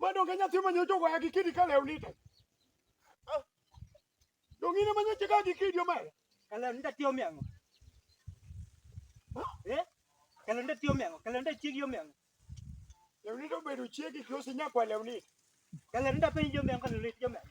Mano ke nyathi ma nyocha ogoya gi kidi ka lewni to. Ah. Dongine ma nyocha ga gi kidi omera. Kalonde ta tiyo miango. Eh? Kalonde tiyo miango, kalonde chiegi omiango. Lewni to bedo chiegi kiosi nyakwa lewni. Kalonde ta penjo miango, kalonde tiyo miango.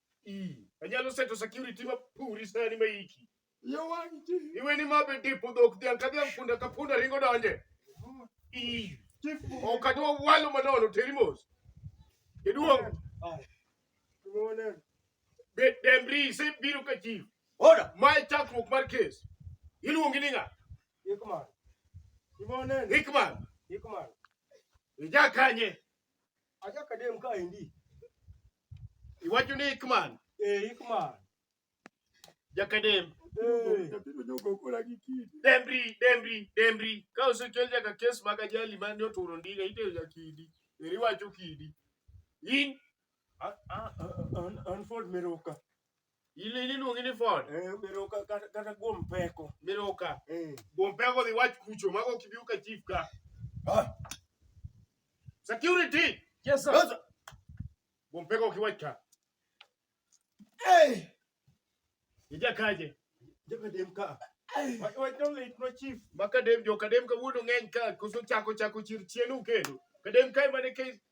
Anyalo seto security ma puri sani ma iki. Yo wang' chi. Iwe ni ma be dipo dhok dhiang' ka dhiang' punda ka punda ringo donje. Ii. Ok adwa walo manono teri mos. Jaduong'. Be Demri isebiro ka chief. Order. Ma e chakruok mar kes. Iluongi ni ng'a? Ikman. Imoneni. Hickman. Ikman. Ija kanye? Aja kadem ka endi. Iwacho ni Ikman. Eh, Ikman. Jakadem. Eh. Dembri, Dembri, Dembri. Ka osechol jaka kes mag ajali mane oturo ndiga iteyo ja kidi. Eri wacho kidi. In an Ford Meroka. Ile ile luongi ni ford. Eh, biro ka ka- kata guom peko. Biro ka. Eh. Gompego dhi wach kucho mago kibiu ka chief ka. Ah, Security. Yes, sir. sasa, Gompego kiwach ka. eh, Ija kaje. Joka dem ka. eh, Wach wach no lit no chief. Maka dem jo kadem ka wuono ng'eny ka koso chako chako chir chienu kendo. Kadem ka mane ke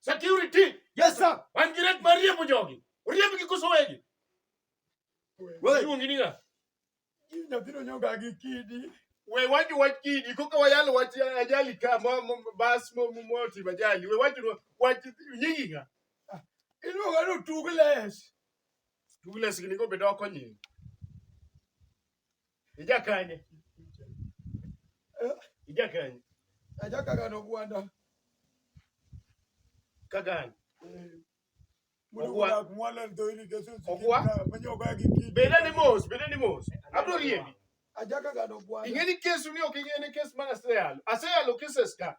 Security. Yes sir. Wan gi ret mar riembo jogi. Oriemb gi koso wegi. Wewe ungi ni ga? Nyathino nyoga gi kidi. We waju wach kidi koka wayal wach ajali ka mo bas mo mo ti ajali. We waju wach nyingi ga. Ah, Inu ga no tugles. Tugles ni ko bedo konyi. Ija kanye? Ija kanye? Aja kagano gwanda. Kagano. Beda ni mos, beda ni mos. Abro riembi. Aja kagano gwanda. Ingeni kesu ni ok ingeni kes mana seyalo. Aseyalo keses ka.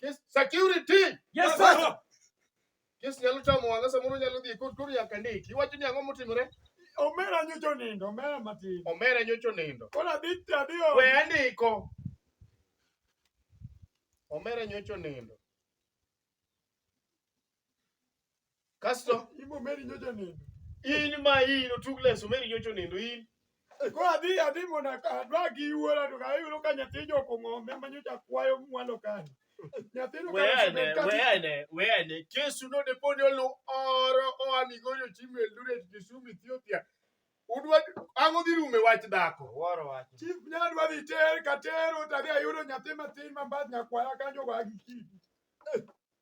Kes security. Yes sir. Kes nyalo tamo wanga samoro nyalo dhi kod koro nyaka ndiki. Iwacho ni ang'o motimore? Omera nyocho nindo, omera matin. Omera nyocho nindo. Koro adhi adhi o. We andiko. Omera nyocho nindo. Kasto imo meri nyocha nindo. In ma in otug leso meri nyocha nindo in. Ko adhi adhi mondo adwa gi wuora to ayudo ka nyathi joko ng'ombe ma nyocha kwayo mwalo kani. Weane, weane, Yesu node poni olu oro oa Migori ochimo Eldoret Kisumu Ethiopia. Udwa ang'o dhi rume wach dhako? Woro wach. Chief nyadwa dhi ter ka tero tadhi ayudo nyathi matin ma mbadh nyakwara kanyo go agikidi.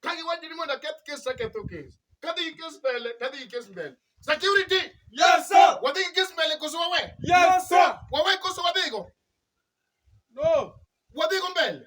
Ka giwacho ni mondo aketh kes aketho kes. Kadhi gi kes mbele, tadhi gi kes mbele. Security! Yes, sir. Wadhi gi kes mbele koso wawe? Yes, sir. Wawe koso wadhigo? No. Wadhigo mbele.